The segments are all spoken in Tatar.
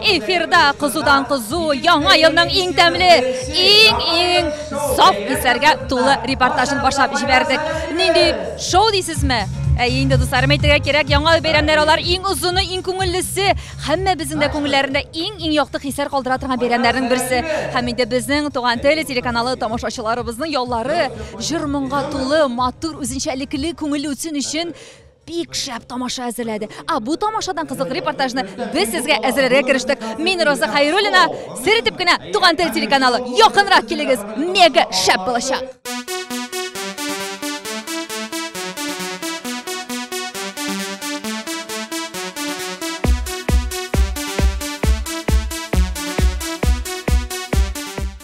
Эфирда кызудан-кызу, яңа елның иң тәмле, иң-иң саф исләргә тулы репортажын башлап җибәрдек. Нинди шоу дисезме? Әйе инде, дусларым, әйтергә кирәк, яңа бәйрәмнәр алар иң озыны, иң күңеллесе, һәммәбезнең дә күңелләрендә иң-иң якты хисләр калдыра торган бәйрәмнәрнең берсе. Һәм инде безнең Туган тел телеканалы тамашачыларыбызның яллары җыр-моңга тулы, матур, үзенчәлекле, күңелле үтсен өчен бик шәп тамаша әзерләде. А бу тамашадан кызык репортажны без сезгә әзерләргә керештек. Мин Роза Хайруллина, сер итеп кенә Туган тел телеканалы. Якынрак килегез, мега шәп булачак.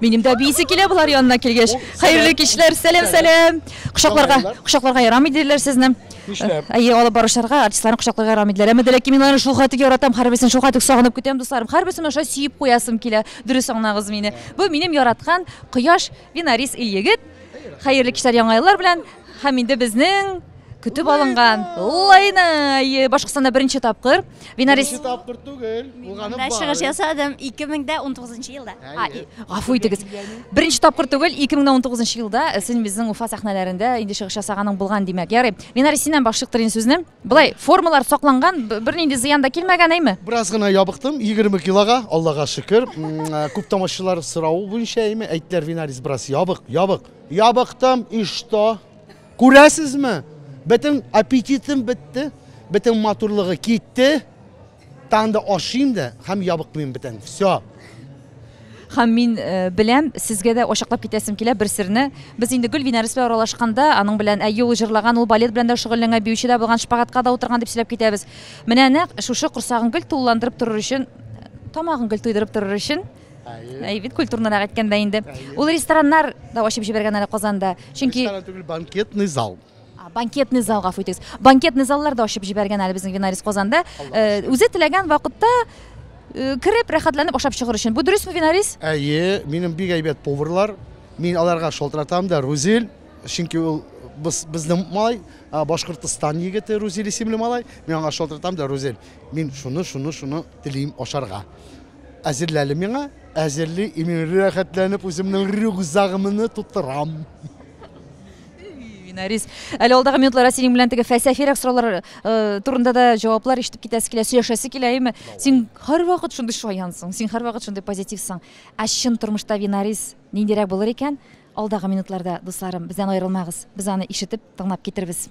Минем дә бийсе килә болар янына килгәч. Хәерле кичләр, сәлам, сәлам. Кочакларга, кочакларга ярамый диләр сезне. Нишләп? Әйе, алып баручыларга артистларны кочакларга ярамый диләр. Әмма дәләки мин аларны шул хәтле яратам, һәрберсен шул хәтле сагынып көтәм, дусларым. Һәрберсен аша сөеп куясым килә. Дөрес аңлагыз мине. Бу минем яраткан кояш Винарис ил егет, хәерле кичләр яңа еллар белән һәм инде безнең көтеп алынган лайна башкортстанда беренче тапкыр винарис беренче тапкыр түгел булганы бар чыгыш ясадым 2019 елда гафу итегез беренче тапкыр түгел 2019 елда син безнең уфа сәхнәләрендә инде чыгыш ясаганың булган димәк ярый винарис синнән башлык торыйын сүзне Былай формалар сакланган, бернинди зыян да килмәгән, әйме? Бераз гына ябыктым, 20 килога, Аллага шөкер. Э, күп тамашчылар соравы буенча, әйме, әйттеләр, Винарис бераз ябык, ябык. Ябыктым, и что? Күрәсезме? Бөтен аппетитым бетте, бөтен матурлыгы китте. Тагын да ашыйм да һәм ябыкмыйм бетән. Всё. Хәм мин беләм, сезгә дә ачыклап китәсем килә бер серне. Без инде Гөлвин Әрес белән аралашканда, аның белән әйе ул җырлаган, ул балет белән дә шөгыльләнгән, биюче дә булган, шпагатка да утырган дип сөйләп китәбез. Менә нәкъ шушы корсагын гел тулыландырып торыр өчен, тамагын гел туйдырып торыр өчен, әйе бит, культурнырак әйткәндә инде, ул рестораннар да ачып җибәргән әле Казанда, чөнки. Ресторан түгел, банкетный зал. Банкетный зал, гафу итегез. Банкетный заллар да ачып җибәргән әле безнең Винарис Казанда. Э, үзе теләгән вакытта э, кереп, рәхәтләнеп ашап чыгыр өчен. Бу дөресме, Винарис? Әйе, минем бик әйбәт поварлар. Мин аларга шалтыратам да, Рузил, чөнки ул без безнең малай, Башкортстан егете Рузил исемле малай. Мин аңа шалтыратам да, Рузил, мин шуны, шуны, шуны телим ашарга. Әзерләле миңа, әзерли, и мин рәхәтләнеп үземнең рюкзагымны тутырам. Нарис. Әле алдагы минутларда синең белән теге фәлсәфирәк сораулар э, турында да җаваплар ишетеп китәсе килә, сөйләшәсе килә, әйме? Син һәрвакыт шундый шаянсың, син һәрвакыт шундый позитивсың. Ә чын тормышта Винарис ниндирәк булыр икән? Алдагы минутларда, дусларым, бездән аерылмагыз. Без аны ишетеп, тыңлап китербез.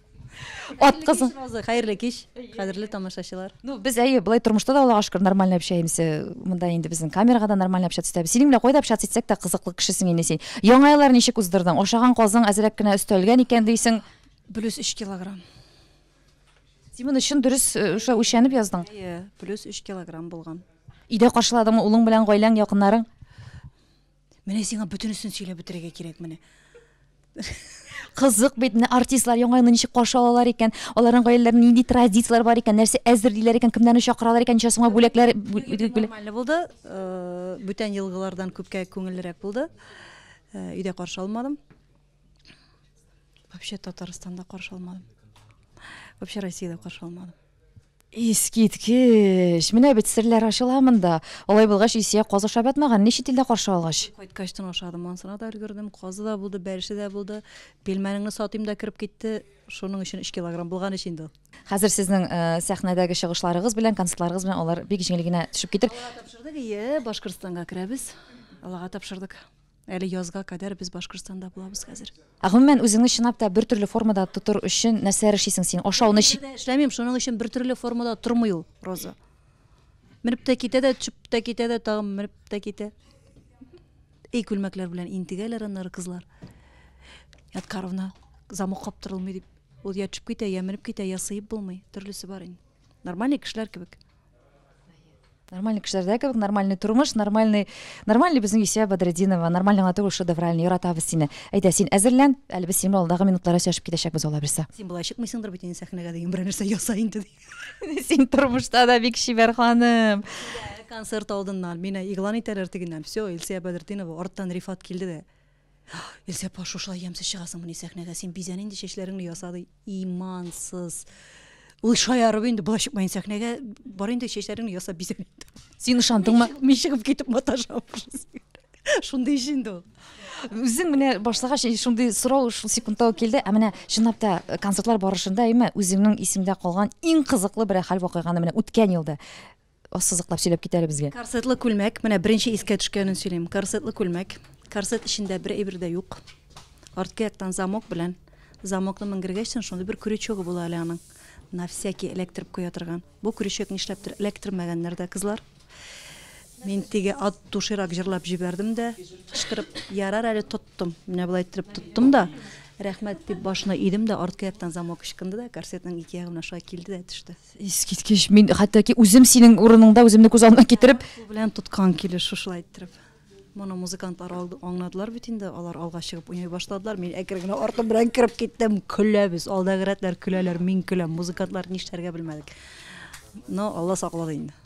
Ат кызы. Хәерле кич, кадерле тамашачылар. Ну, без әйе, былай тормышта да Аллага шөкер нормально общаемся. Э, монда инде безнең камерага да нормально общаться итәбез. Синең белән кайда общаться итсәк тә кызыклы кешесең инде син. Яңа еллар ничек уздырдың? Ашаган казың әзрәк кенә өстәлгән икән дисең. Плюс 3 килограмм. Син моны чын дөрес э, шулай үчәнеп яздың? Әйе, плюс 3 килограмм булган. Өйдә каршыладыңмы улың белән гаиләң, якыннарың? Менә сиңа бөтенесен сөйләп бетерергә кирәк менә. Кызык бит, менә артистлар яңа елны ничек каршы алалар икән, аларның гаиләләрендә нинди традицияләр бар икән, нәрсә әзерлиләр икән, кемнәрне чакыралар икән, ничә сумга бүләкләр Нормально булды. Э, Бүтән елгылардан күпкә күңеллерәк булды. Э, Өйдә каршы алмадым. Вообще Татарстанда каршы алмадым. Вообще Россиядә каршы алмадым. Искиткеч! Менә бит серләр ачыла монда. Алай булгач, Илсөя казы ашап ятмаган, ни чит илдә каршы алгач. Кайткач тын ашадым, монсына да өлгердем. Казы да булды, бәлеше дә булды. Пилмәнеңне сатыйм да кереп китте. Шуның өчен өч килограмм булган ич инде ул. Хәзер сезнең сәхнәдәге чыгышларыгыз белән, концертларыгыз белән алар бик җиңел генә төшеп китер. Аллага тапшырдык, әйе, Башкортстанга керәбез. Аллага тапшырдык. Әле язга кадәр без Башкортстанда булабыз хәзер. Ә гомумән үзеңне чынлап та бертөрле формада тотыр өчен нәрсәләр эшлисең син? Ашауны Бер дә эшләмим, шуның өчен бертөрле формада тормый ул Роза. Менеп тә китә дә, төшеп тә китә дә, тагын менеп тә китә. И күлмәкләр белән интегәләр аннары кызлар. Яткаровна замок каптырылмый дип. Ул я төшеп китә, я менеп китә, я сыеп булмый. Төрлесе бар инде. Нормальный кешеләр кебек. Нормальный кешеләрдә кебек, нормальный тормыш, нормальный, нормальный безнең Исә Бадретдинова, нормальный гына түгел, шедевральный, яратабыз сине. Әйдә, син әзерлән, әле без синең алдагы минутларда сөйләшеп китәчәкбез ала бирсә. Син болай чыкмыйсыңдыр бит инде сәхнәгә дигән берәр нәрсә яса инде. Син тормышта да бик чибәр ханым. Концерт алдыннан мине игълан итәләр тегеннән. Все, Илсия Бадретдинова, арттан Рифат килде дә. Илсә апа, шушылай ямьсез чыгасыңмыни сәхнәгә? Син бизән инде чәчләреңне яса, ди. Имансыз. Ул шаярып инде, болай чыкма инде сәхнәгә, бар инде чәчләреңне ясап бизән инде. Син ышандыңмы? Мин чыгып китеп маташам. Шундый ич инде ул. Үзең менә башлагач, э, шундый сорау шул секундта ук килде. Ә менә чынлап та э, концертлар барышында, әйме, үзеңнең исеңдә калган иң кызыклы бер хәл вакыйганы менә үткән елда ассызыклап сөйләп кит әле безгә. Корсетлы күлмәк, менә беренче искә төшкәнен сөйлим. Корсетлы күлмәк, корсет эчендә бер әйбер дә юк. Арткы яктан замок белән, замокны менгергәч соң шундый бер крючогы була әле аның. На всякий электроп куя торган. Бу крючок нишләптер электромәгәннәр дә кызлар. Мин теге ат тушырак җырлап җибәрдем дә, кычкырып, ярар әле тоттым. Менә болай иттереп тоттым да, рәхмәт дип башына идем дә, арткы яктан замок ычкынды да, корсетның ике ягына шулай килде дә төште. Искиткеч, мин хәтта ки үзем синең урыныңда үземне күз алдына китереп. Кул белән тоткан килеш шушылай иттереп. Моны музыкантлар аңладылар бит инде, алар алга чыгып уйный башладылар. Мин әкрен генә артым белән кереп киттем. Көләбез, алдагы рәтләр көләләр, мин көләм. Музыкантлар нишләргә белмәдек. Но Алла саклады инде.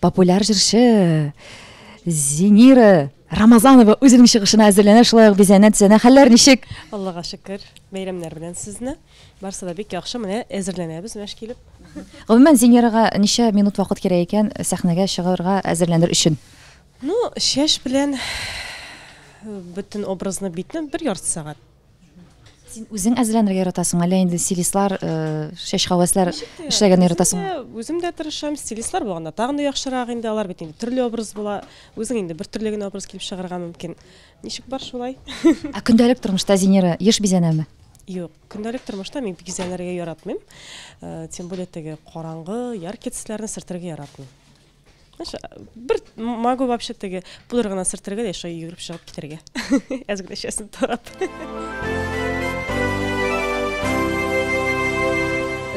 Популяр җырчы Зинира Рамазанова үзенең чыгышына әзерләнә, шулай ук бизәнә тезәнә. Хәлләр ничек? Аллага шөкер, бәйрәмнәр белән сезне. Барсы да бик яхшы, менә әзерләнәбез мәш килеп. Гомумән Зинирага ничә минут вакыт кирәк икән сәхнәгә чыгарга әзерләнер өчен? Ну, чәч белән бөтен образны битне бер ярты сәгать. Син үзең әзерләнергә яратасың, әллә инде стилистлар, шәш хәвәсләр эшләгәнне яратасың? Үзем дә тырышам, стилистлар булганда тагын да яхшырак инде, алар бит инде төрле образ була. Үзең инде бер төрле генә образ килеп чыгарга мөмкин. Ничек бар шулай? Ә көндәлек тормышта Зинера еш бизәнәме? Юк, көндәлек тормышта мин бизәнергә яратмыйм. Тем более теге караңгы, яркий төсләрне сөртергә яратмыйм. бир могу вообще теге пудра гына сөртергә дә шулай йөгереп чыгып китәргә әз генә чәчен тарап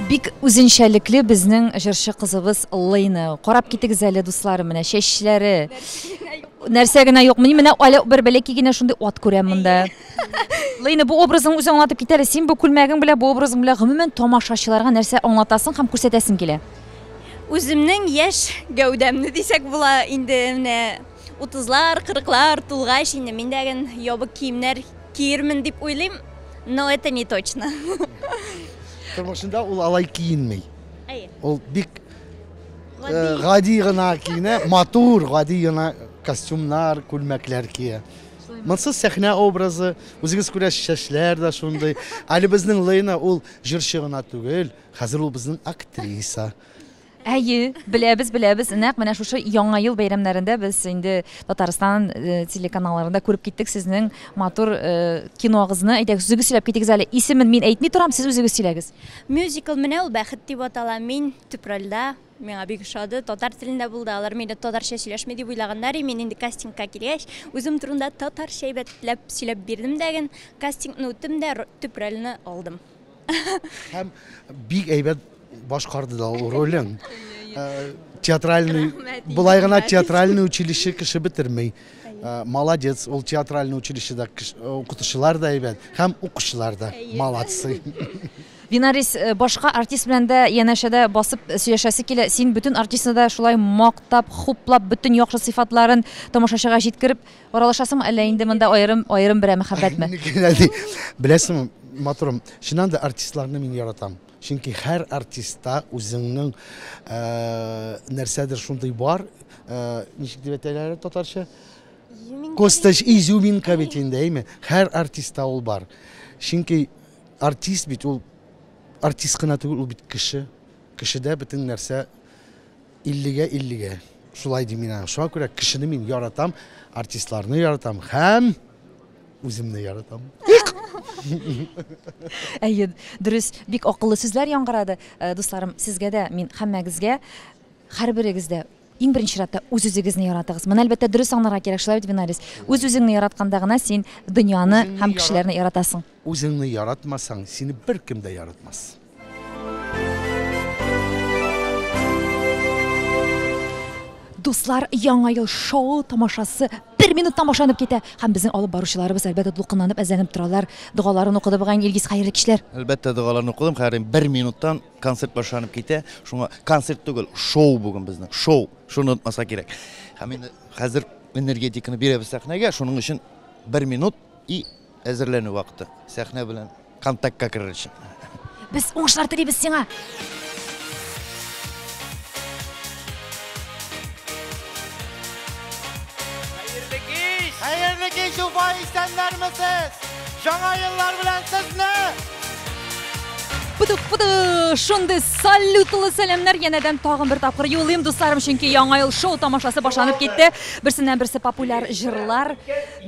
бик үзенчәлекле безнең җырчы кызыбыз лыйны карап китегез әле дусларым менә чәчләре нәрсә генә юк мин менә әле бер бәләкәй генә шундый ат күрәм монда лыйны бу образың үзе аңлатып китә әле син бу күлмәгең белән бу образың белән гомумән тамашачыларга нәрсә аңлатасың һәм күрсәтәсең килә Үземнең яшь гәүдәмне дисәк була, инде менә 30лар, 40лар тулгач, инде мин дә ген ябык киемнәр киермен дип уйлыйм, но это не точно. Тормышында ул алай киенми. Әйе. Ул бик гади гына киенә, матур, гади гына костюмнар, күлмәкләр кия. Монсыз сәхнә образы, үзегез күрәсез, чәчләр дә шундый. Әле безнең Лейна ул җырчы гына түгел, Хәзер ул безнең актриса. Әйе, беләбез, беләбез. Нәкъ менә шушы Яңа ел бәйрәмнәрендә без инде Татарстан телеканалларында күреп киттек сезнең матур киногызны. Әйдәгез, үзегез сөйләп китегез әле. Исемен мин әйтми торам, сез үзегез сөйләгез. Мюзикл менә ул Бәхет дип атала. Мин төп рольдә. Миңа бик ошады. Татар телендә булды. Алар мине татарча сөйләшми дип уйлаганнар, и мин инде кастингка килгәч, үзем турында татарча әйбәтләп сөйләп бирдем дә ген, кастингны үттем дә, төп рольне алдым. Һәм бик әйбәт башкарды да ул ролен. Э, театральный, былай гына театральный училище кеше бетермей. Э, молодец, ул театральный училищеда э, укытучылар да әйбәт, һәм укучылар да молодцы. Винарис, башка артист белән дә янәшәдә басып сөйләшәсе килә. Син бөтен артистны да шулай мактап, хуплап, бөтен яхшы сыйфатларын тамашачыга җиткереп Аралашасыңмы әллә инде монда аерым аерым берәр мәхәббәтме? Беләсеңме, матурым, чыннан да артистларны мин яратам. Чөнки һәр артистта үзеңнең нәрсәдер шундый бар, ничек дип әйтәләр татарча? Костач изюминка бит инде, әйме? Һәр артистта ул бар. Чөнки артист бит ул артист кына түгел, ул бит кеше. Кешедә бөтен нәрсә Иллегә иллегә шулай дим мин аңа. Шуңа күрә кешене мин яратам, артистларны яратам һәм үземне яратам. Әйе, дөрес, бик акыллы сүзләр яңгырады. Э, дусларым, сезгә дә, мин һәммәгезгә, һәрберегез дә иң беренче чиратта үз үзегезне яратыгыз. Моны әлбәттә дөрес аңларга кирәк, шулай бит, Винарис? Үз үзеңне яратканда гына син дөньяны һәм кешеләрне яратасың. Үзеңне яратмасаң, сине беркем дә яратмас. Дуслар, яңа ел шоу тамашасы бер минут тамашанып китә. Һәм безнең алып баручыларыбыз әлбәттә дулкынланып әзләнеп торалар. Догаларын укыды бугай Илгиз хәерле кичләр. Әлбәттә догаларын укыдым, хәерле бер минуттан концерт башланып китә. Шуңа концерт түгел, шоу бүген безнең. Шоу. Шуны онытмаска кирәк. Һәм инде хәзер энергетиканы бирәбез сәхнәгә, шуның өчен бер минут и Әзерләнү вакыты. Сәхнә белән контактка керер өчен. Без уңышлар телибез сиңа! Хәерле кич! Хәерле кич, Уфа, исәннәрме сез? Жаңа еллар белән сезне! Пыдык, пыдык! Шундый салютлы сәламнәр янәдән тагын бер тапкыр юлыйм, дусларым, чөнки Яңа ел шоу тамашасы башланып китте. Берсеннән-берсе популяр җырлар,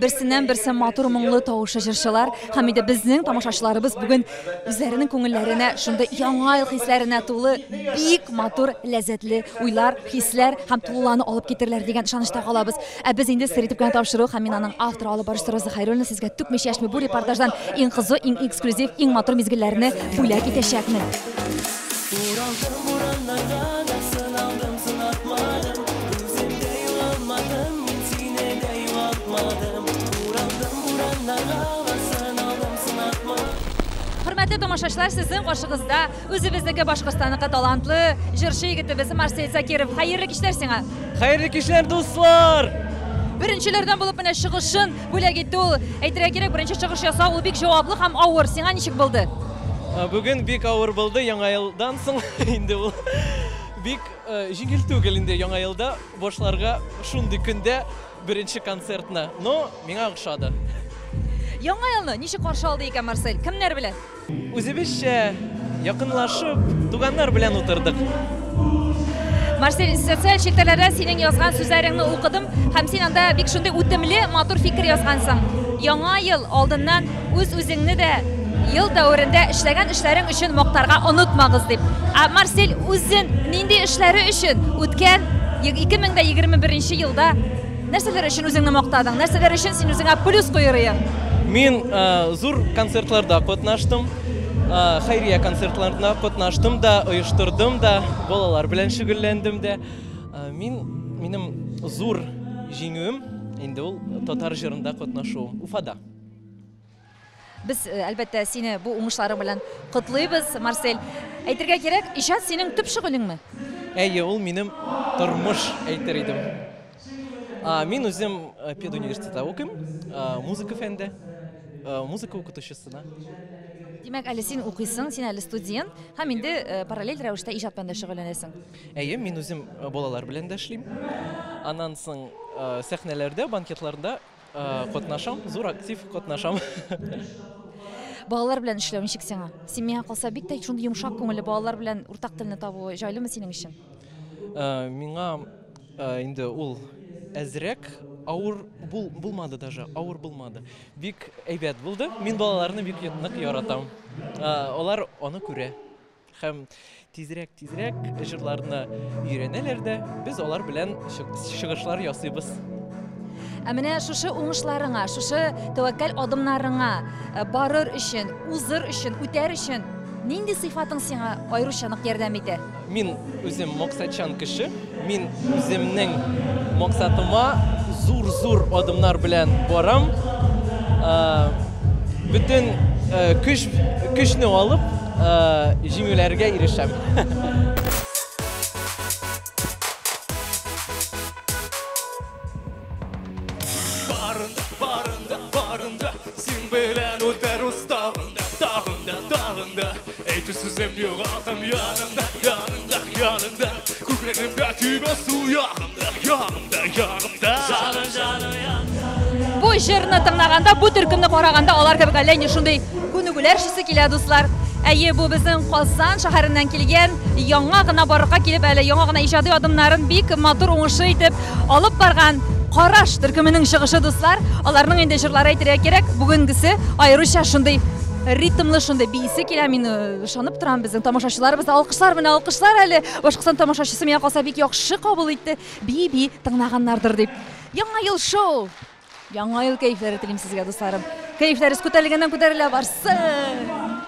Берсеннән-берсе матур моңлы тавышлы җырчылар һәм инде безнең тамашачыларыбыз бүген үзләренең күңелләренә шундый яңа ел хисләренә тулы бик матур, ләззәтле уйлар, хисләр һәм тулылану алып китерләр дигән ышанычта калабыз. Ә без инде сер итеп кенә тапшыру һәм мин аның авторы, алып баручысы Роза Хәйруллина сезгә түкми-чәчми бу репортаждан иң кызу, иң эксклюзив, иң матур мизгелләрне бүләк итәчәкмен. Уралдым урамнарда да, сыналдым, сынатмадым, үземдә югалмадым, мин сине дә югалтмадым. Уралдым урамнарда да, сыналдым, сынатмадым. Хөрмәтле тамашачылар, сезнең каршыгызда үзебезнеке Башкортстанныкы талантлы җырчы егетебез Марсель Закиров. Хәерле кичләр сиңа! Хәерле кичләр, дуслар! Беренчеләрдән булып менә чыгышын Бүләк итте ул. Әйтергә кирәк, беренче чыгыш ясау ул бик җаваплы һәм авыр. Сиңа ничек булды? Ә, Бүген бик авыр булды яңа елдан соң инде ул. Бик э, җиңел түгел инде яңа елда башларга шундый көндә беренче концертны. Но миңа охшады. Яңа елны ничек каршы алды икән Марсель? Кемнәр белән? Үзебезчә якынлашып, туганнар белән утырдык. Марсель, социаль челтәрләрдә синең язган сүзләреңне укыдым, һәм син анда бик шундый үтемле, матур фикер язгансың. Яңа ел алдыннан үз-үзеңне дә ел дәверендә эшләгән эшләрең өчен мактарга онытмагыз дип. Ә Марсель үзен нинди эшләре өчен үткән 2021 елда Нәрсәләр өчен үзеңне мактадың? Нәрсәләр өчен син үзеңә плюс куйырыйың? Мин э, зур концертларда катнаштым. Э, Хәйрия концертларында катнаштым да, оештырдым да, балалар белән шөгыльләндем дә. Э, Мин минем зур җиңүем инде ул татар җырында катнашу Уфада. Без, әлбәттә, сине бу уңышларың белән котлыйбыз, Марсель. Әйтергә кирәк, иҗат синең төп шөгылеңме? Әйе, ул минем тормыш әйтер идем. Мин үзем педуниверситетта укыйм, музыка фәнендә, музыка укытучысына. Димәк, әле син укыйсың, син әле студент һәм инде параллель рәвештә иҗат белән дә шөгыльләнәсең. Әйе, мин үзем балалар белән дә эшлим. Аннан соң сәхнәләрдә, банкетларда Э, катнашам, зур актив катнашам. Балалар белән эшләү ничек сиңа? Син миңа калса бик тә шундый йомшак күңелле балалар белән уртак телне табу җайлымы синең өчен? Э, миңа э, инде ул әзрәк авыр бул, булмады даже, авыр булмады. Бик әйбәт булды. Мин балаларны бик нык яратам. Алар аны күрә. Һәм тизрәк тизрәк җырларны өйрәнәләр дә, без алар белән чыгышлар ясыйбыз. Ә менә шушы уңышларыңа, шушы тәвәккәл адымнарыңа э, барыр өчен, узыр өчен, үтәр өчен нинди сыйфатың сиңа аеруча нык ярдәм итә? Мин үзем максатчан кеше. Мин үземнең максатыма зур-зур адымнар белән барам. Бөтен көч, көчне алып, җиңүләргә ирешәм. Әйтү сүзем юк атым янымда, янымда, янымда Күкрәгемдә тибә су янымда, янымда, янымда Жаны, жаны янда Бу җырны тыңлаганда, бу төркемне караганда алар кебек әллә ни шундый күнегүләр шисе килә, дуслар. Әйе, бу безнең Казан шәһәреннән килгән, яңа гына барырга килеп әле, яңа гына иҗади адымнарын бик матур уңышлы итеп алып барган Караш төркеменең чыгышы, дуслар. Аларның инде җырлары әйтергә кирәк, бүгенгесе аеруча шундый ритмлы шундый биисе килә мин ышанып торам безнең тамашачыларыбызда алкышлар менә алкышлар әле башкортстан тамашачысы миңа калса бик яхшы кабул итте бии бии тыңлаганнардыр дип яңа ел шоу яңа ел кәефләре телим сезгә дусларым кәефләрегез күтәрелгәннән күтәрелә барсын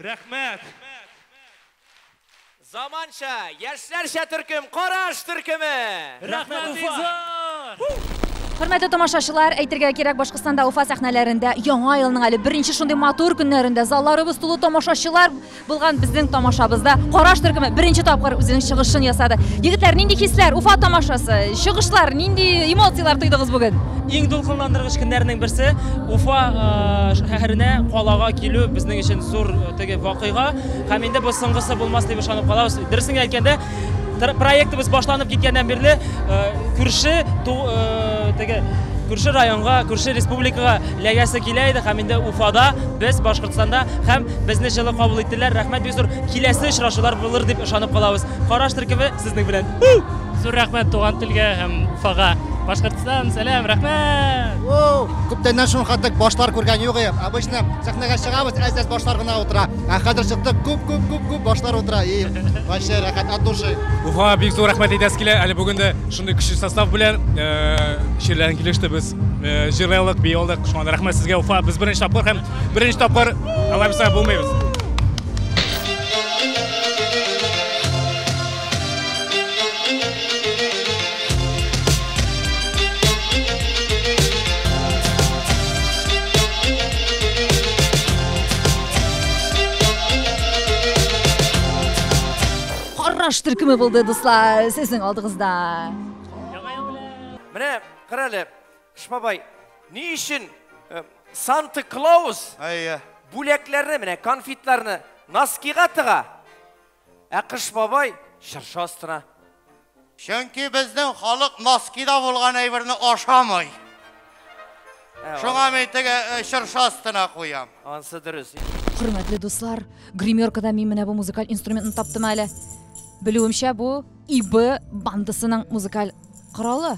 рәхмәт Заманча, яшьләрчә төркем, Караш төркеме! Рәхмәт, Уфа! Хөрмәтле тамашачылар, әйтергә кирәк, Башкортстанда Уфа сәхнәләрендә яңа елның әле беренче шундый матур көннәрендә залларыбыз тулы тамашачылар булган безнең тамашабызда Караш төркеме беренче тапкыр үзенең чыгышын ясады. Егетләр, нинди хисләр, Уфа тамашасы, чыгышлар, нинди эмоцияләр тойдыгыз бүген? Иң дулкынландыргыч көннәрнең берсе Уфа шәһәренә, калага килү безнең өчен зур теге вакыйга. Һәм инде бу соңгысы булмас дип ышанып калабыз. Дөресен әйткәндә, проектыбыз башланып киткәннән бирле күрше теге күрше районга, күрше республикага ләгәсе килә иде һәм инде Уфада, без Башкортстанда һәм безне җылы кабул иттеләр. Рәхмәт бик зур. Киләсе очрашулар булыр дип ышанып калабыз. Караш төркеме сезнең белән. Зур рәхмәт туган телгә һәм Уфага. Башкортстан Сәлам, сәлам, рәхмәт! О, күптәннән шуның хәтлек башлар күргән юк идем. Обычно сәхнәгә чыгабыз, әз-әз башлар гына утыра. Ә хәзер чыктык, күп, күп, күп, күп башлар утыра. И, вообще рәхәт от души. Уфа бик зур рәхмәт әйтәсе килә. Әле бүген дә шундый көчле состав белән чирләрен килеште без. Җырлыйлык, бии алдык. Шуңа да рәхмәт сезгә, Уфа. Без беренче тапкыр һәм беренче тапкыр алабызга булмыйбыз. Караш төркеме булды, дуслар, сезнең алдыгызда. Менә карале, Шпабай, ни өчен э, Санта Клаус Әйе. бүләкләрне, менә конфетларны носкига тыга? Ә Кыш бабай чыршы астына. Чөнки безнең халык носкида булган әйберне ашамый. Ә, Шуңа мин теге э, чыршы астына куям. Ансы дөрес. Хөрмәтле дуслар, гримеркада мин менә бу музыкаль инструментны таптым әле. Белүемчә, бу ИБ бандасының музыкаль коралы.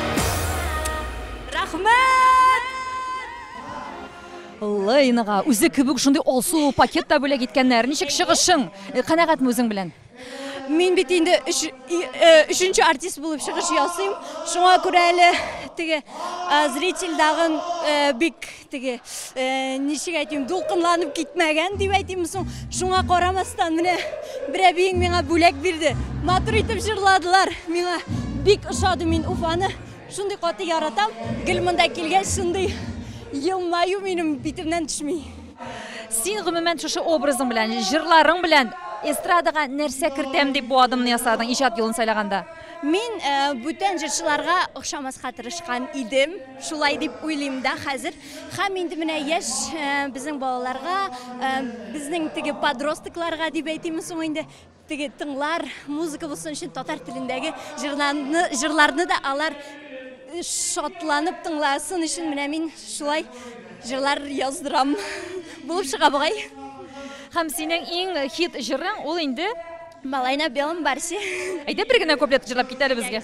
Рәхмәт! Лейнага үзе кебек шундый алсу пакет та бүләк иткәннәр. Ничек чыгышың? Э, Канәгатьме үзең белән? Мин бит инде өч, и- э, өченче артист булып чыгыш ясыйм. Шуңа күрә әле теге э, зритель дагын э, бик Теге, ничек әйтим, дулкынланып китмәгән дип әйтимме соң, шуңа карамастан, менә бер әбиең миңа бүләк бирде. Матур итеп җырладылар. Миңа бик ошады, мин Уфаны шундый каты яратам. Гел монда килгәч, шундый елмаю минем битемнән төшми. Син гомумән шушы образың белән, җырларың белән эстрадага нәрсә кертәм дип бу адымны ясадың иҗат юлын сайлаганда? Мин бүтән җырчыларга охшамаска тырышкан идем. Шулай дип уйлыйм да хәзер. Һәм инде менә яшь безнең балаларга, безнең теге подростокларга дип әйтимме соң инде, теге тыңлар, музыка булсын өчен татар телендәге җырларны, җырларны да алар шатланып тыңласын өчен менә мин шулай җырлар яздырам. Булып чыга бугай. Һәм синең иң хит җырың ул инде? Малай на белом барсе. Әйдә бер генә куплет җырлап кит әле безгә.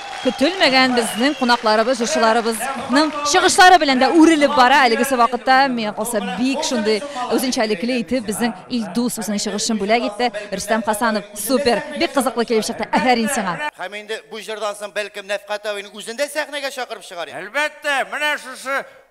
Көтелмәгән безнең кунакларыбыз, җырчыларыбызның чыгышлары белән дә үрелеп бара. Әлегесе вакытта миңа калса бик шундый үзенчәлекле итеп безнең Илдус үзенең чыгышын бүләк итте. Рөстәм Хасанов, супер! Бик кызыклы килеп чыкты. Афәрин сиңа! Һәм инде бу җырдан соң бәлкем Нәфкать абыйны үзен дә сәхнәгә чакырып чыгар идек. Әлбәттә, менә шушы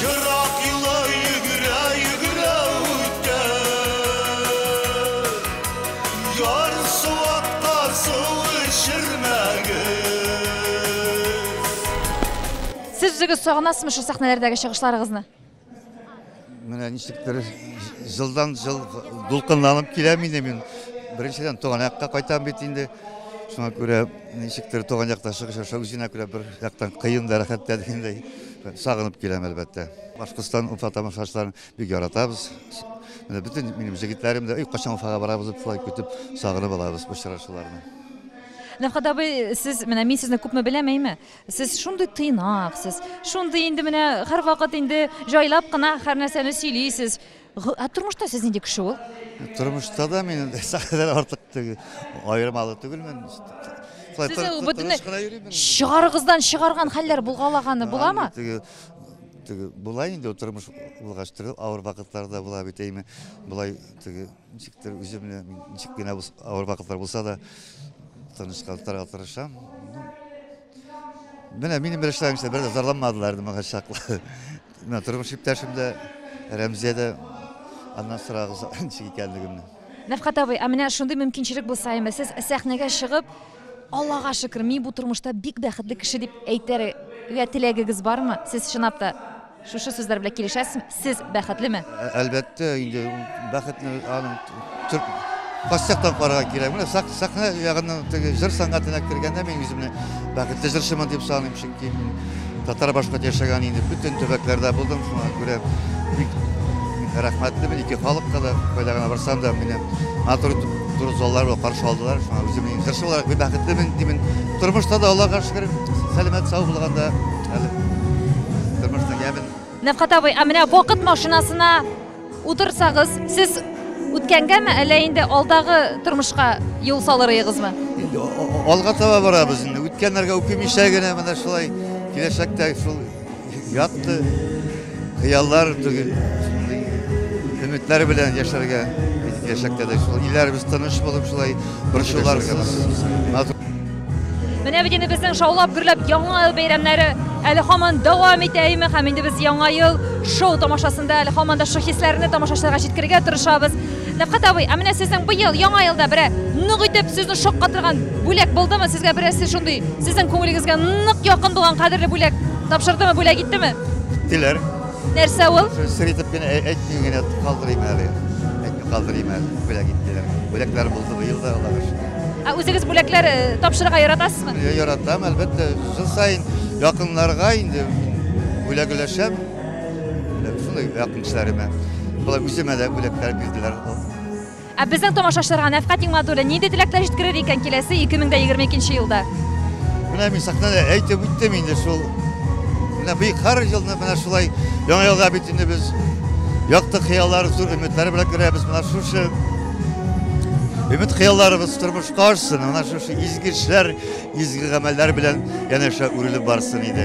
Ерак юллар йөгерә, йөгерә үткән. Ярсу актар сул эчермәгез. Сез үзегез сагынасызмы шул сәхнәләрдәге чыгышларыгызны? Менә ничектер җылдан җыл дулкынланып киләм инде мин. Беренчедән, туган якка кайтам бит инде. Шуңа күрә ничектер туган якта чыгыш ясау үзенә күрә бер яктан кыен да, рәхәт тә дигәндәй. Сагынып киләм, әлбәттә. Башкортстан, Уфа тамашачыларын бик яратабыз. Менә бөтен минем җегетләрем дә, өй качан Уфага барабыз дип шулай көтеп, сагынып алабыз очрашуларны. Нәфкать абый, сез менә мин сезне күпме беләм, әйме? Сез шундый тыйнак, сез шундый инде менә һәрвакыт инде җайлап кына һәрнәрсәне сөйлисез. Ә тормышта сез нинди кеше ул? Тормышта да мин сәхнәдән артык түгел, аермалы түгелмен. Сезнең бөтенләй чыгарыгыздан чыгарган хәлләр булгалаганы буламы? Теге була инде тормыш булгач төрле авыр вакытларда була бит әйме. Болай теге ничектер үземне ничек кенә авыр вакытлар булса да тынычландырырга тырышам. Менә минем бер эшләмчә бер дә зарланмадылар инде моңа чаклы. Менә тормыш иптәшем дә, Рәмзия дә аннан сорагыз ничек икәнлегемне. Нәфкать абый, ә менә шундый мөмкинчелек булса име, сез сәхнәгә чыгып, Аллага шөкер, мин бу тормышта бик бәхетле кеше дип әйтер гә теләгегез бармы? Сез чынлап та. Шушы сүзләр белән килешәсезме? Сез бәхетлеме? Әлбәттә, инде ул бәхетне аның Костяктан карарга кирәк. Менә сак, сахна ягыннан теге җыр сәнгатенә кергәндә мин үземне бәхетле җырчымын дип саныйм, чөнки мин татар башкорт яшәгән инде бөтен төбәкләрдә булдым, шуңа күрә бик рәхмәтлемен ике халыкка да, кайда гына барсам да мине матур зур заллар белән каршы алдылар, шуңа үземне җырчы буларак бик бәхетлемен димен. Тормышта да Аллага шөкер, сәламәт сау булганда әле тормышның ямен. Нәфкат абый, ә менә вакыт машинасына утырсагыз, сез үткәнгәме, әллә инде алдагы тормышка юл салыр ыегызмы? Инде алга таба барабыз инде. Үткәннәргә үкемичә генә менә шулай киләчәктә шул ятты Хыяллар түгел, шундый өметләр белән яшәргә киләчәктә дә шул илләребез тыныч булып шулай борчуларсыз Менә бит инде безнең шаулап гөрләп яңа ел бәйрәмнәре әле һаман дәвам итә име һәм инде без яңа ел шоу тамашасында әле һаман да шул хисләрне тамашачыларга җиткерергә тырышабыз. Нәфкать абый, ә менә сезнең быел яңа елда бере нык итеп сезне шаккатырган бүләк булдымы? Сезгә берәрсе шундый сезнең күңелегезгә нык якын булган кадерле бүләк тапшырдымы, бүләк иттеме? Иттеләр. Нәрсә ул? Сер итеп кенә әйтми генә калдырыйм әле. Әйтми калдырыйм әле. Бүләк иттеләр. Бүләкләр булды быел да, Аллага шөкер. Ә үзегез бүләкләр э, тапшырырга яратасызмы? Яратам, әлбәттә, жыл саен якыннарга инде бүләк өләшәм. Шундый якынчыларыма. Шулай үземә дә бүләкләр бирделәр. Ә безнең тамашачыларга Нәфкать Нигматуллин нинди теләкләр җиткерер икән киләсе 2022 елда? Менә мин сәхнәдә әйтеп үттем инде шул. Менә бик һәр елны менә шулай яңа елга бит инде без якты хыяллар, зур өметләр белән керәбез. Менә шушы Өмет хыялларыбыз тормышка ашсын, ана шушы изге эшләр, изге гамәлләр белән янәшә үрелеп барсын иде.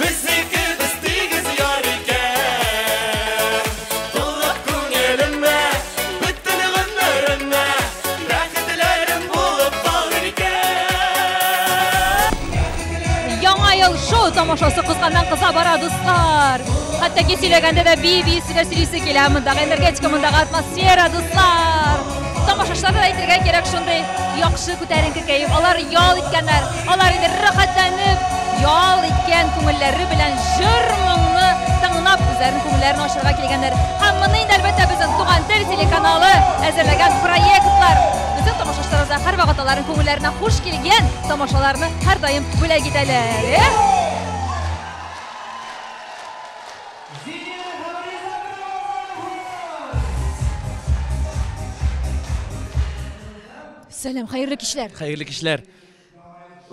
Безнекебез тигез яр икән Тулып күңелемә Бөтен гомеремә Бәхетләрем булып калыр икән Яңа ел шоу тамашасы кызганнан кыза бара, дуслар! Хәтта ки сөйләгәндә дә бии бии сөйлә сөйлисе килә, мондагы энергетика, мондагы атмосфера, дуслар! Тамашачыларга да әйтергә кирәк, шундый яхшы күтәренке кәеф, алар ял иткәннәр, Алар инде рәхәтләнеп ял иткән күңелләре белән җыр-моңны тыңлап үзләренең күңелләрен ачарга килгәннәр. Һәм моны инде әлбәттә безнең Туган тел телеканалы әзерләгән проектлар безнең тамашачыларыбызга һәрвакыт аларның күңелләренә хуш килгән тамашаларны һәрдаим бүләк итәләр. Сәлам, хәерле кичләр! Хәерле кичләр!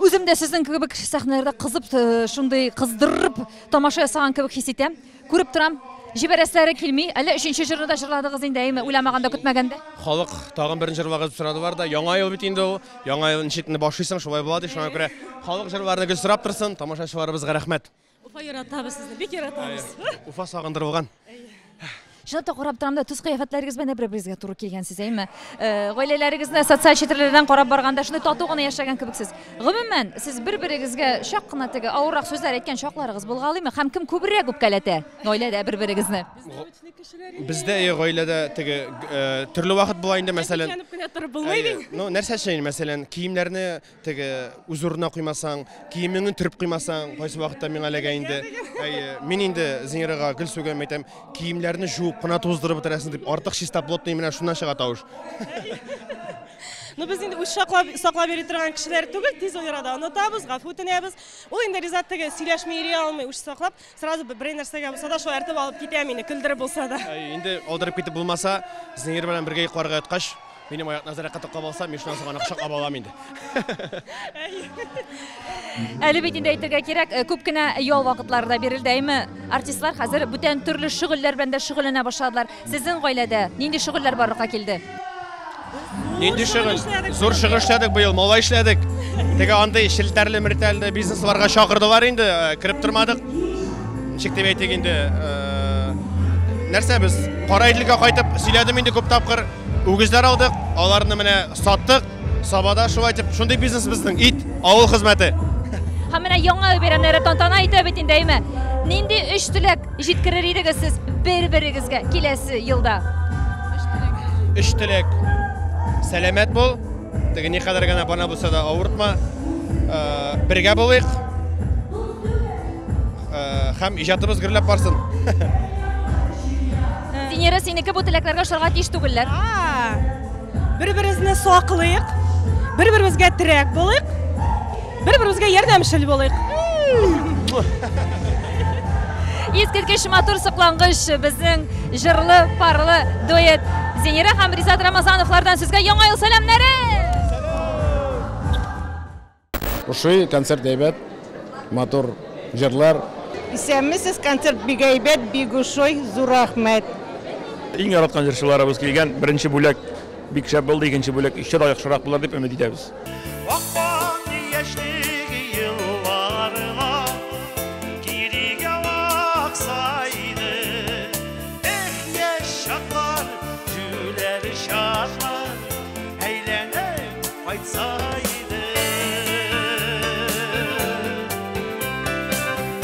Үзем дә сезнең кебек сәхнәләрдә кызып, э, шундый кыздырып тамаша ясаган кебек хис итәм. Күреп торам, җибәрәсләре килми. Әллә өченче җырны да җырладыгыз инде, әйме, уйламаганда, көтмәгәндә. Халык тагын берне җырлагыз дип сорадылар да, яңа ел бит инде ул. Яңа ел ничек инде башлыйсың, шулай була ди. Шуңа күрә халык җырларны гел сорап торсын, тамашачыларыбызга рәхмәт. Уфа яратабыз сезне, бик яратабыз. Уфа сагындырылган. Шуны да карап торам да, төс кыяфәтләрегез белән бер-берегезгә туры килгәнсез, әйме? Э, гаиләләрегезне социаль челтәрләрдән карап барганда шундый тату гына яшәгән кебексез. Гомумән, сез бер-берегезгә чак кына теге авыррак сүзләр әйткән чакларыгыз булгалыймы? Һәм кем күбрәк үпкәләтә гаиләдә бер-берегезне? Бездә э, гаиләдә теге э, төрле вакыт була инде, мәсәлән. Янып кенә торып булмый бит. Ну, нәрсә өчен, мәсәлән, киемнәрне Теге үз урынына куймасаң, киемеңне төреп куймасаң, кайсы вакытта миңа эләгә инде. Әйе, мин инде Зинирага гел сүгәм әйтәм, киемнәрне жуып кына туздырып бетерәсең дип, артык чистоплотный менә шуннан чыга тавыш. Ну без инде үз саклап саклап йөри торган кешеләр түгел, тиз арада онытабыз, гафу үтенәбез. Ул инде Ризат теге сөйләшми йөри алмый, үч саклап. Сразу берәй нәрсәгә булса да шаяртып алып китә мине, көлдереп булса да. Инде алдырып китеп булмаса, Зинер белән бергә йокларга яткач, минем аякны азрак кытыклап алса, мин шуннан соң аны кочаклап алам инде. Әле бит инде әйтергә кирәк, э, күп кенә ял вакытлары да бирелде, әйме? Артистлар хәзер бүтән төрле шөгыльләр белән дә шөгыльләнә башладылар. Сезнең гаиләдә нинди шөгыльләр барлыкка килде? Нинди шөгыль? Зур шөгыль эшләдек быел, малай эшләдек. Теге андый челтәрле мертәлле бизнесларга чакырдылар инде, э, кереп тормадык. Ничек дип әйтик инде, э, нәрсә без Кара Иделгә кайтып сөйләдем инде күп тапкыр. Үгезләр алдык, аларны менә саттык. Сабада шулай дип, шундый бизнес безнең, ит, авыл хезмәте. Һәм менә яңа ел бәйрәмнәре тантана итә бит инде, әйме? Нинди өч теләк җиткерер идегез сез бер-берегезгә киләсе елда? Өч теләк. Сәламәт бул, теге никадәр генә бана булса да авыртма. Бергә булыйк. Һәм иҗатыбыз гөрләп барсын. Венера, синеке бу теләкләргә ошарга тиеш түгелләр. Бер-беребезне саклыйк, бер-беребезгә терәк булыйк, бер-беребезгә ярдәмчел булыйк. Искиткеч матур соклангыч безнең җырлы, парлы дуэт Зинира һәм Ризат Рамазановлардан сезгә яңа ел сәламнәре! Ошый, концерт әйбәт, матур җырлар. Исәнмесез, концерт бик әйбәт, бик ошый, зур рәхмәт. Иң яраткан җырчыларыбыз килгән, беренче бүләк бик шәп булды, икенче бүләк еще да яхшырак булыр дип өмет итәбез. Кайтса иде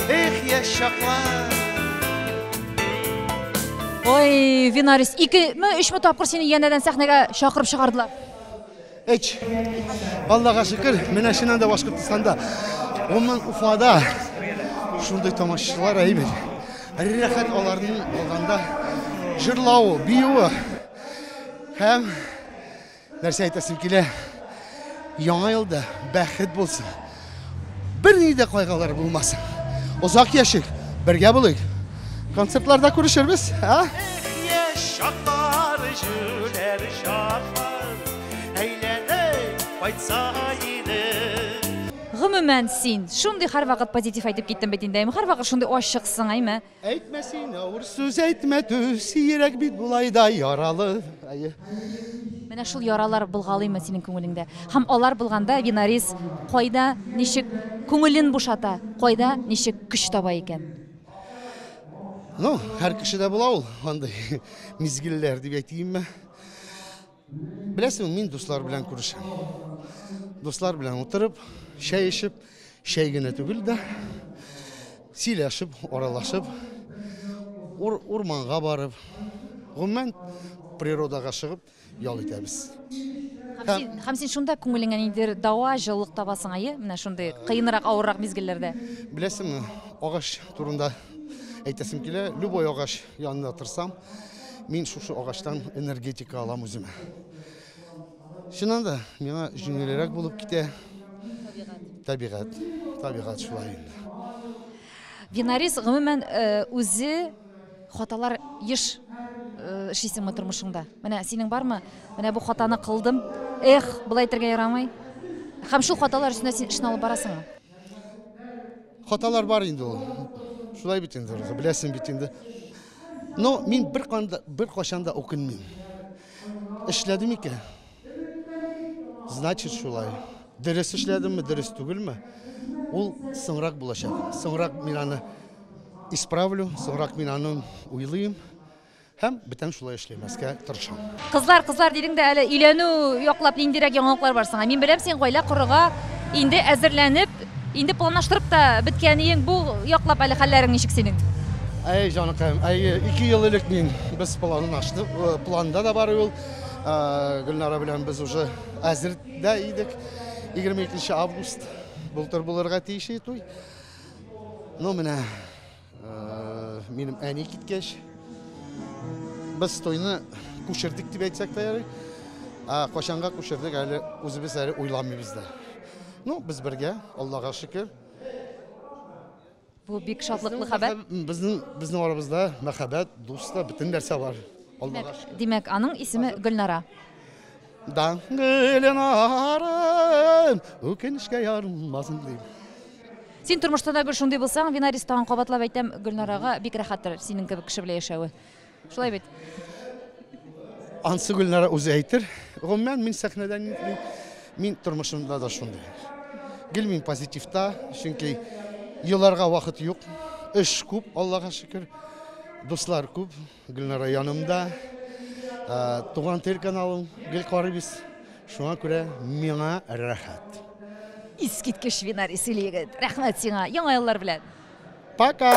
Эх, яшь чаклар Ой, Винарис, ике ме, өч ме тапкыр сине янәдән сәхнәгә чакырып чыгардылар? Эч. Аллага шөкер, менә шуннан да Башкортстанда. Гомумән Уфада шундый тамашачылар әйбәт. Рәхәт аларның алганда җырлавы, биюе һәм Нәрсә әйтәсем килә, яңа елда бәхет булсын, берни дә кайгылар булмасын. Озак яшик, бергә булыйк. Концертларда күрешербез, а? Гомумән, син шундый һәрвакыт позитив әйтеп киттең бит инде, әйме, һәрвакыт шундый ачыксың, әйме? Әйтмә син авыр сүз, әйтмә түз, йөрәк бит болай да яралы. Әйе. Менә шул яралар былгалыймы синең күңелеңдә? Һәм алар булганда Винарис кайда, ничек күңелен бушата, кайда, ничек көч таба икән? Ну, һәр кешедә була ул андый мизгелләр дип әйтимме. Беләсең, мин дуслар белән күрешәм. Дуслар белән утырып, чәй эчеп, чәй генә түгел дә, сөйләшеп, аралашып, ур, урманга барып, гомумән природага чыгып ял итәбез. Һәм син, һәм син шунда күңелеңә ниндидер дава, җылылык табасың, әйе? Менә шундый кыенрак, авыррак мизгелләрдә. Беләсеңме, агач турында әйтәсем килә. Любой агач Янына тырсам, мин шушы агачтан энергетика алам үземә. Чыннан да, миңа җиңелрәк булып китә. Табигать. Табигать шулай инде. Винарис гомумән э, үзе хаталар еш э, эшлисеңме тормышыңда? Менә синең бармы? Менә бу хатаны кылдым. Эх, болай итәргә ярамый. Һәм шул хаталар өстенә син эшне алып барасыңмы? Хаталар бар инде ул. Шулай бит инде, беләсең бит инде. Но мин бер канда бер кашан да укынмыйм. Эшләдем икән. Значит, шулай. Дөрес эшләдемме, дөрес түгелме? Ул соңрак булачак. Соңрак мин аны исправлю, соңрак мин аны уйлыйм. һәм бүтән шулай эшләмәскә тырышам. Кызлар, кызлар дидең дә әле өйләнү яклап ниндирәк яңалыклар бар соңа? Мин беләм, син гаилә корырга инде әзерләнеп, инде планлаштырып та беткән иең. Бу яклап әле хәлләрең ничек синең? Әй, җаныкаем, әйе, ике ел элек мин без планлаштык, э, планда да бар ул. Э, Гөлнара белән без уже әзер дә идек. 22 август былтыр булырга тиеш иде туй. Ну, менә Минем әни киткәч, без тойны күчердек дип әйтсәк тә ярый. Ә качанга күчердек әле үзебез әле уйламыйбыз да. Ну, без бергә, Аллага шөкер. Бу бик шатлыклы хәбәр. Безнең безнең арабызда мәхәббәт, дуста, бөтен нәрсә бар. Аллага шөкер. Димәк, аның исеме Гөлнара. Данлы Ленарым, үкенечкә ярылмасын дим. Син тормышта да гел шундый булсаң, Винарис тагын кабатлап әйтәм, Гөлнарага бик рәхәттер синең кебек кеше белән яшәве. Шулай бит. Ансы Гөлнара үзе әйтер. Гомумән мин сәхнәдә нитми, мин тормышымда да шундый. Гел мин позитивта, чөнки еларга вакыт юк. Эш күп, Аллага шөкер. Дуслар күп. Гөлнара янымда, туган тел каналын гел карыйбыз. Шуңа күрә миңа рәхәт. Искиткеч винар исел егет. Рәхмәт сиңа. Яңа еллар белән. Пока.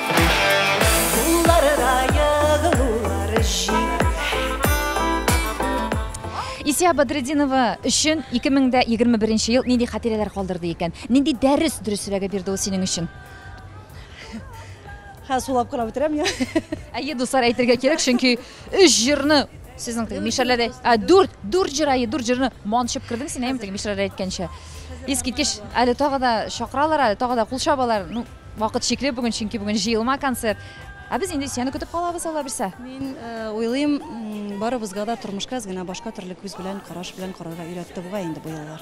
Исия Бадретдинова өчен 2021 ел нинди хатирәләр калдырды икән? Нинди дәрес дөресрәге бирде ул синең өчен? Ха, сулап кына бетерәм я. Әйе, дуслар әйтергә кирәк, чөнки 3 җырны сезнең теге мишәрләдә, ә 4 4 җыр әйе, 4 җырны манчып кердең син әйе, теге мишәрләр әйткәнчә. Искиткеч, әле тагы да чакыралар, әле тагы да кул чабалар. Ну, Вакыт чикле бүген, чөнки бүген җыелма концерт. Ә без инде сине көтеп калабыз, алла бирсә. Мин э, уйлыйм, барыбызга да тормышка генә башка төрле күз белән, караш белән карарга өйрәтте бугай инде бу еллар.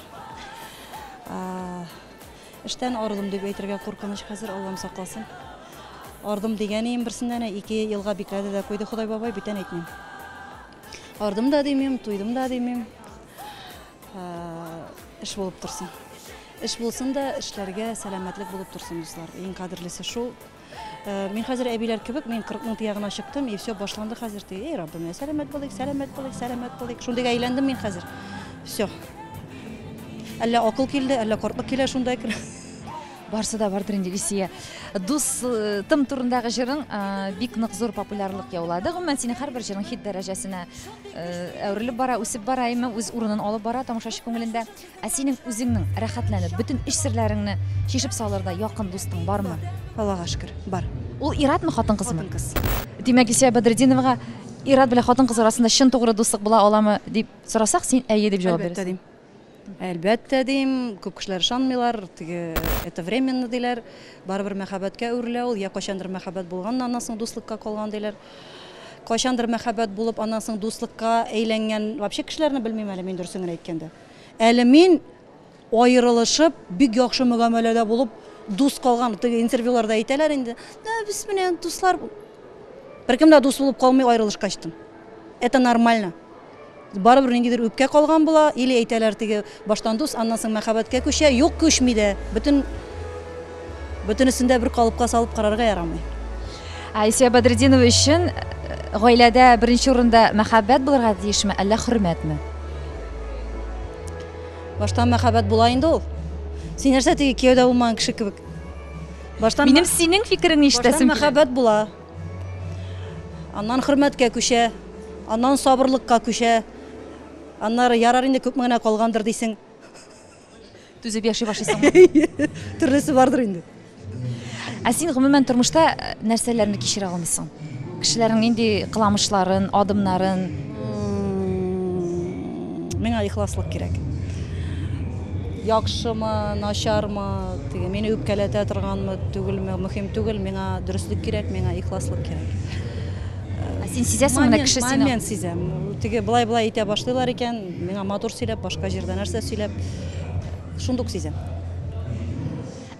Эштән арылым дип әйтергә куркыныч хәзер, Аллам сакласын. Ардым дигәнем берсеннән ике елга бикләде дә куйды Ходай бабай, бүтән әйтмим. Ардым да димим, туйдым да димим. Эш булып торсын. Эш булсын да, эшләргә сәламәтлек булып торсын, дуслар. Иң кадерлесе шул. Э, мин хәзер әбиләр кебек, мин 40 мең тиягына чыктым, и все, башланды хәзер. Ди, эй, Раббым, сәламәт булыйк, сәламәт булыйк, сәламәт булыйк. Шундый әйләндем мин хәзер. Все. Әллә акыл килде, әллә кортлык килә шунда кер. Барсы да бардыр инде Ильсия. Дустым турындагы җырың бик нык зур популярлык яулады. Гомумән синең һәрбер җырың хит дәрәҗәсенә әверелеп бара, үсеп бара, әмма үз урынын алып бара тамашачы күңелендә. Ә синең үзеңнең рәхәтләнеп, бөтен эч серләреңне чишеп салырда якын дустың бармы? Аллага шөкер, бар. Ул иратмы, хатын-кызмы? Хатын-кыз. Димәк, Ильсия Бадретдиновага ират белән хатын-кыз арасында чын тугры дуслык була аламы дип сорасак, син әйе дип җавап бирәсең. Әлбәттә, дим. Әлбәттә, дим, күп кешеләр ышанмыйлар, теге это временно диләр, барыбер мәхәббәткә әверелә ул, йә кайчандыр мәхәббәт булган, аннан соң дуслыкка калган диләр. Кайчандыр мәхәббәт булып, аннан соң дуслыкка әйләнгән вообще кешеләрне белмим әле мин дөресен генә әйткәндә. Әле мин аерылышып, бик яхшы мөгамәләдә булып дус калган, теге интервьюларда әйтәләр инде, да без менә дуслар, беркем дә дус булып калмый аерылышкач тын. Это нормально. Барыбер ниндидер үпкә калган була, или әйтәләр теге, баштан дус, аннан соң мәхәббәткә күчә, юк, күчми дә. Бөтен, бөтенесен дә бер калыпка салып карарга ярамый. Айсия Бадретдинова өчен гаиләдә беренче урында мәхәббәт булырга тиешме, әллә хөрмәтме? Баштан мәхәббәт була инде ул. Син нәрсә теге кияүдә булмаган кеше кебек? Баштан Минем синең фикереңне баштан ишетәсем килә. мәхәббәт була. Аннан хөрмәткә күчә, аннан сабырлыкка күчә. Аннары ярар инде күпме генә калгандыр дисең. Түзеп яши башлыйсыңмы? Төрлесе бардыр инде. Ә син гомумән тормышта нәрсәләрне кичерә алмыйсың? Кешеләрнең нинди кыламышларын, адымнарын, Миңа ихласлык кирәк. Яхшымы, начармы, теге мине үпкәләтә торганмы, түгелме, мөһим түгел, миңа дөреслек кирәк, миңа ихласлык кирәк. Ә син сизәсең менә кеше сине. Момент сизәм. Теге былай-былай итә башлыйлар икән, миңа матур сөйләп, башка җирдә нәрсә сөйләп, шундук сизәм.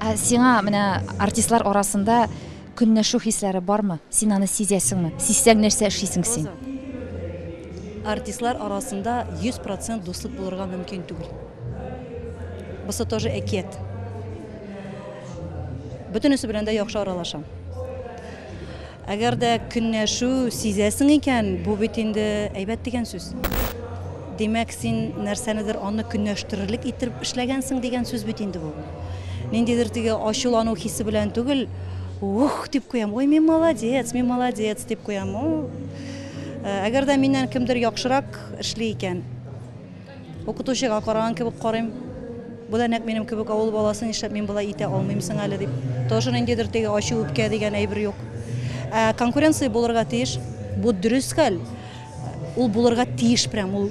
Ә сиңа менә артистлар арасында Көнләшү хисләре бармы? Син аны сизәсеңме? Сизсәң, нәрсә эшлисең син? Роза. Артистлар арасында 100 процент дуслык булырга мөмкин түгел. Бусы тоже әкият. Бөтенесе белән дә яхшы аралашам. Әгәр дә көнләшү сизәсең икән, бу бит инде әйбәт дигән сүз. Димәк, син нәрсәнедер аны көнләштерерлек иттереп эшләгәнсең дигән сүз бит инде бу. Ниндидер теге ачулану хисе белән түгел, ух дип куям, ой, мин молодец, мин молодец дип куям. Э, әгәр дә миннән кемдер яхшырак эшли икән, укытучыга караган кебек карыйм. Бу да нәкъ минем кебек авыл баласы, нишләп мин болай итә алмыйм соң әле дип. Тоже ниндидер теге ачу үпкә дигән әйбер юк. Ә конкуренция булырга тиеш. Бу дөрес хәл. Ул булырга тиеш прям ул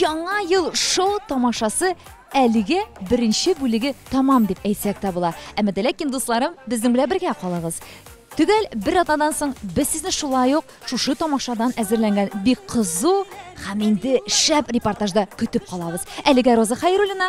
Яңа ел шоу тамашасы әлеге беренче бүлеге тамам дип әйтсәк тә була. Әмма дә ләкин дусларым, безнең белән бергә калыгыз. Төгәл бер атнадан соң без сезне шулай ук шушы тамашадан әзерләнгән бик кызу һәм инде шәп репортажда көтеп калабыз. Әлегә Роза Хайруллина